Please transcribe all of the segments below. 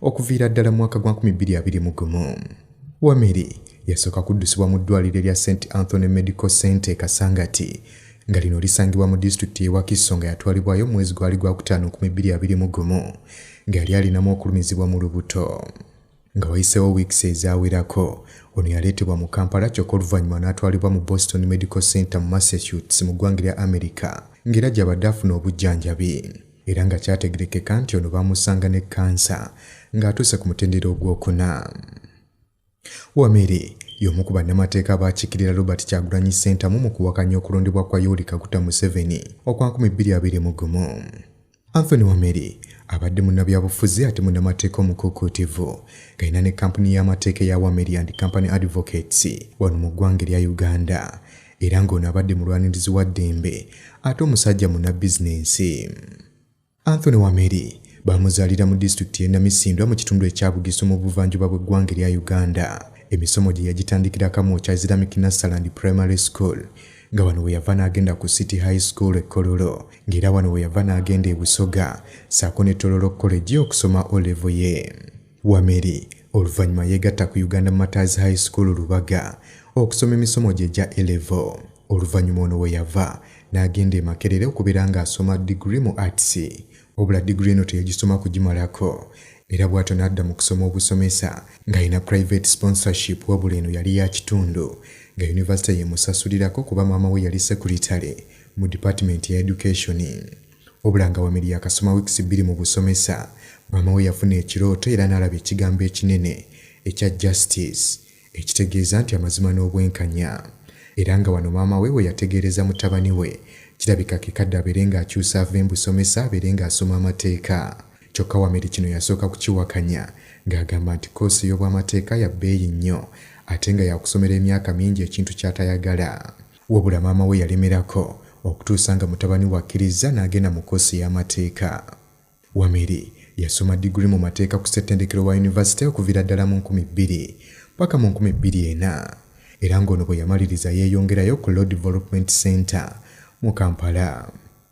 okuviira ddala mu mwaka gwa 2021 wameri yasooka kuddusibwa mu ddwaliro erya st anthony medical center e kasangati nga lino lisangibwa mu disitulikiti y'ewakiso nga yatwalibwayo mu mwezi gwali gwakutaano 2021 nga yali alinamu okulumizibwa mu lubuto nga wayiseewo wiikisi ezawerako ono yaleetebwa mu kampala kyokka oluvannyuma n'atwalibwa mu boston medical center mu massachusetts mu ggwanga lya america ng'era gy'abadde afuna obujjanjabi era nga kyategerekeka nti ono baamusanga ne kkansa ng'atuuse ku mutendera ogwokuna wamere y'omu ku bannamateeka abaakiikirira robert kyagulanyi ssentamu mu kuwakanya okulondebwa kwa yoweri kaguta museveni okwa 2 mu gumu anthony wamere abadde munnabyabufuzi ate munnamateeka omukuukuutivu galina ne kampuni y'amateeka eya wameri and company advocates wano mu ggwanga erya uganda era ng'ono abadde mulwanirizi wa ddembe ate omusajja munabbizinensi anthony wameri baamuzaalira mu disitulikiti y'e namisindwa mu kitundu ekya bugisu mu buvanjuba bw'eggwanga erya uganda emisomo gye yagitandikira kamu okya islamic nassaland primary school nga wano we yava n'agenda ku city high school ekkololo ng'era wano we yava n'agenda e busoga saako ne tololo college okusoma olevo ye Wameri oluvannyuma yeegatta ku Uganda Martyrs High School Lubaga okusoma emisomo gye gya A-Level. Oluvannyuma ono we yava n'agenda e Makerere okubeera ng'asoma diguli mu Arts. Wabula diguli eno teyagisoma kugimalako era bw'atyo n'adda mu kusoma obusomesa ng'alina private sponsorship wabula eno yali ya kitundu nga yunivasite y'emusasulirako kuba maama we yali sekuritale mu dipatimenti ya edukeshoni. Wabula nga Wameli yakasoma wiikisi bbiri mu busomesa, maama we yafuna ekirooto era n'alaba ekigambo ekinene ekya Justice ekitegeeza nti amazima n'obwenkanya era nga wano maama we we yategeereza mutabani we kirabika ke kadde abeere ng'akyusa ave mu busomesa abeere ng'asoma amateeka. Kyokka Wameli kino yasooka kukiwakanya ng'agamba nti koosi ey'obwamateeka ya bbeeyi nnyo ate nga yakusomera emyaka mingi ekintu ky'atayagala. Wabula maama we yalemerako okutuusa nga mutabani we akkirizza n'agenda mu koosi y'amateeka. Wameri yasoma diguli mu mateeka ku ssettendekero wa yunivasite okuviira ddala mu nkumi bbiri paka mu nkumi bbiri ena era ng'ono bwe yamaliriza yeeyongerayo ku Law Development Center mu Kampala.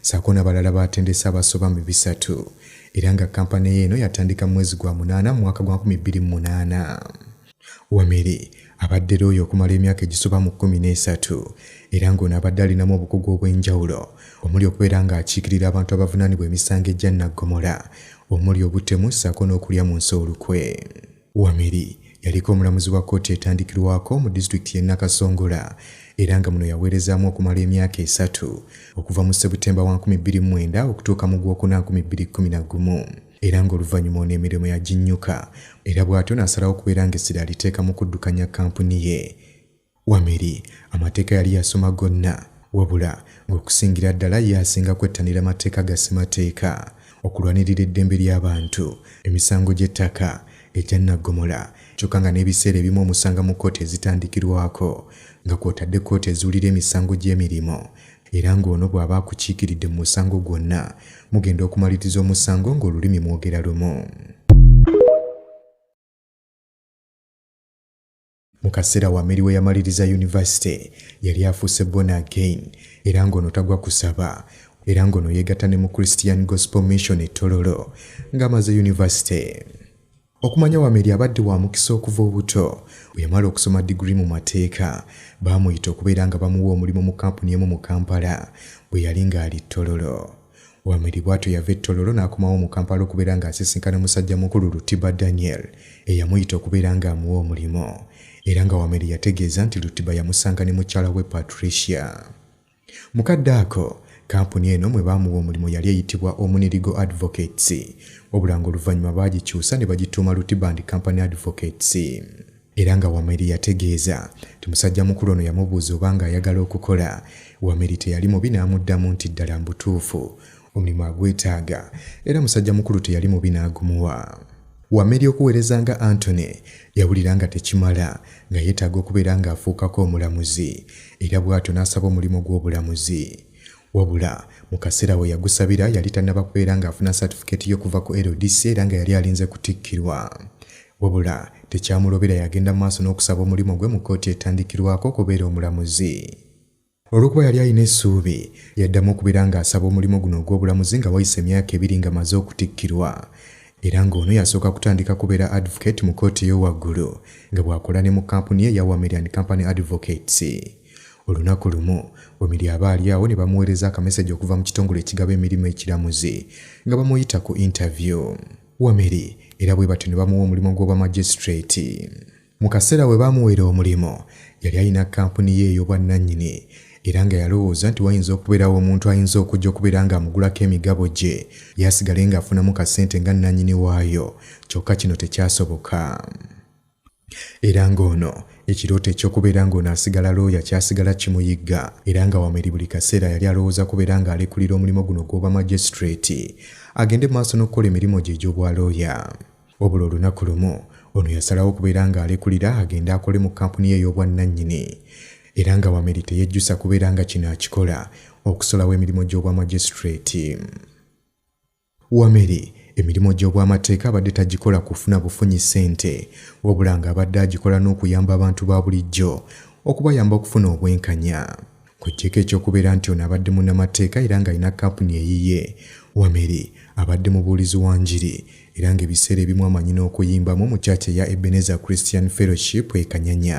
saako nabalala batendese abasoba mu bisatu era nga kampani yeeno yatandika mumwezi gwa munaana mu mwaka gwa 2008. Wameri abadde looya okumala emyaka egisoba mu kkumi n'esatu era ng'ono abadde alinamu obukugu obw'enjawulo omuli okubeera ng'akiikirira abantu abavunaanibwa emisango egya naggomola omuli obutemu ssaako n'okulya mu nsi olukwe. Wamiri yaliko omulamuzi wa kkooti etandikirwako mu disitulikiti y'e Nakasongola era nga muno yaweerezaamu okumala emyaka esatu okuva mu Ssebutemba wa 2009 okutuuka mu Gwokuna 2011 era ng'oluvannyuma ono emirimu yaginnyuka era bw'atyo n'asalawo okubeera ng'essira aliteeka mu kuddukanya kkampuni ye Wameri amateeka yali yasoma gonna wabula ng'okusingira ddala ye asinga kwettanira amateeka ga ssemateeka okulwanirira eddembe ly'abantu emisango gy'ettaka egya naggomola kyokka nga n'ebiseera ebimu omusanga mu kkooti ezitandikirwako nga kw'otadde kkooti ezuulira emisango gy'emirimu era ng'ono bw'aba akukiikiridde mu musango gwonna mugenda okumaliriza omusango ng'olulimi mwogera lumu Mu kaseera Wameli we yamaliriza yunivasite yali afuuse born again era ng'ono tagwa kusaba era ng'ono yeegatta ne mu Christian Gospel Mission e Tororo ng'amaze yunivasite. Okumanya Wameli abadde wa mukisa okuva obuto. Bwe yamala okusoma diguli mu mateeka, baamuyita okubeera nga bamuwa omulimu mu kampuni emu mu Kampala bwe yali ng'ali Tororo. Wamwiri bw'atyo yava e Tororo n'akomawo mu Kampala okubeera ng'asisinkana musajja mukulu Lutiba Daniel eyamuyita okubeera ng'amuwa omulimu era nga Wamwiri yategeeza nti Lutiba yamusanga ne mukyala we Patricia. Mu kadde ako, kampuni eno mwe baamuwa omulimu yali eyitibwa Omunirigo Advocates, wabula ng'oluvannyuma baagikyusa ne bagituuma Lutiba and Company Advocates. era nga Wameli yategeeza nti musajja mukulu ono yamubuuza oba nga ayagala okukola. Wameli teyali mubi n'amuddamu nti ddala mbutuufu omulimu agwetaaga era musajja mukulu teyali mubi n'agumuwa. Wameli okuweereza nga Anthony yawulira nga tekimala nga yeetaaga okubeera ng'afuukako omulamuzi era bw'atyo n'asaba omulimu gw'obulamuzi. wabula mu kaseera we yagusabira yali tannaba kubeera ng'afuna satifikeeti y'okuva ku ldc era nga yali alinze kutikkirwa wabula tekyamulobera yagenda mu maaso n'okusaba omulimu gwe mu kkooti etandikirwako okubeera omulamuzi olw'okuba yali alina essuubi yaddamu okubeera ng'asaba omulimu guno ogw'obulamuzi nga wayise emyaka ebiri nga maze okutikkirwa era ng'ono yasooka kutandika kubeera advocate mu kkooti ey'owaggulu nga bw'akola ne mu kampuni ye eya wamerian company advocates Olunaku lumu Omiri aba ali awo ne bamuweereza akameseji okuva mu kitongole ekigaba emirimu ekiramuzi nga bamuyita ku interview. Wameri era bwe batyo ne bamuwa omulimu gw'obwa magistrate. Mu kaseera we baamuweera omulimu yali alina kkampuni ye ey'obwannannyini era nga yalowooza nti wayinza okubeerawo omuntu ayinza okujja okubeera ng'amugulako emigabo gye yasigale ng'afunamu kasente nga nnannyini waayo kyokka kino tekyasoboka. era ng'ono ekirooto eky'okubeera ng'ono asigala looya kyasigala kimuyigga era nga wameri buli kaseera yali alowooza kubeera ng'alekulira omulimu guno gw'oba magistrate agende maaso n'okukola emirimu gye egy'obwa looya obula olunaku lumu ono yasalawo okubeera ng'alekulira agende akole mu kampuni ye ey'obwannannyini era nga wameri teyejjusa kubeera nga kino akikola okusolawo emirimu gy'obwa magistrate Wameri emirimu gy'obwamateeka abadde tagikola kufuna bufunyi ssente wabula ng'abadde agikola n'okuyamba abantu ba bulijjo okubayamba okufuna obwenkanya kw'oggyeeko eky'okubeera nti ono abadde munnamateeka era ng'alina kampuni eyiye wameri abadde mubuulizi wa njiri era ng'ebiseera ebimu amanyi n'okuyimbamu mu kyaki eya ebeneza christian fellowship ekanyanya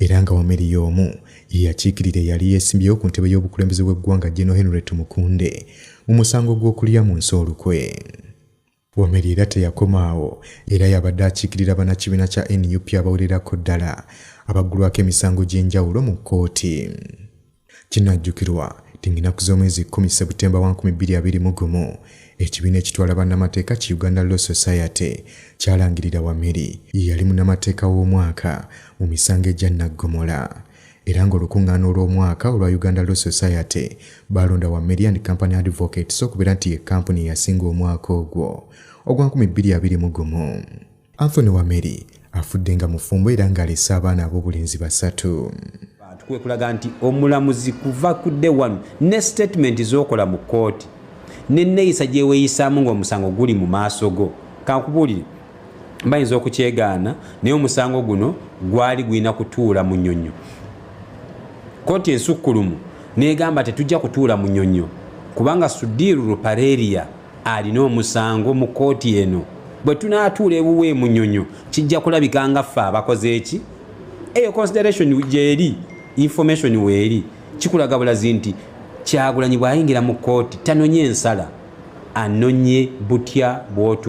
era nga wameri y'omu ye yakiikirira eyali yeesimbyewo ku ntebe y'obukulembeze bw'eggwanga General Henry Tumukunde mu musango gw'okulya mu nsi olukwe. Wameri era teyakomaawo era yabadde akiikirira banakibiina kya nup abawererako ddala abaggulwako emisango gy'enjawulo mu kkooti. Kinajjukirwa nti ng'ennaku z'omwezi kkumi Ssebutemba wa nkumi bbiri abiri mu gumu, ekibiina ekitwala bannamateeka ki Uganda Law Society kyalangirira Wameri ye yali munnamateeka w'omwaka mu misango egya nnaggomola era ng'olukuŋŋaana olw'omwaka olwa Uganda Law Society baalonda Wameri and Company Advocates okubeera nti ye kkampuni eyasinga omwaka ogwo ogwa nkumi bbiri abiri mu gumu. Anthony Wameri afudde nga mufumbo era ng'alese abaana ab'obulenzi basatu. Abantu kwe kulaga nti omulamuzi kuva ku dde wanu ne sitatimenti z'okola mu kkooti n'enneeyisa gye weeyisaamu ng'omusango guli mu maaso go. Kankubuulire bayinza okukyegaana naye omusango guno gwali gulina kutuula mu nyonyo kkooti ensukkulumu n'egamba tetujja kutuula mu nyonyo kubanga sudiiru rupareria alina omusango mu kkooti eno bwe tunaatuula ewuwe emunyonyo kijja kulabika nga ffe abakoze eki eyo consideration gyeri information weeri kikulaga bulazi nti kyagulanyi bwayingira mu kkooti tanonye ensala anonye butya bwotu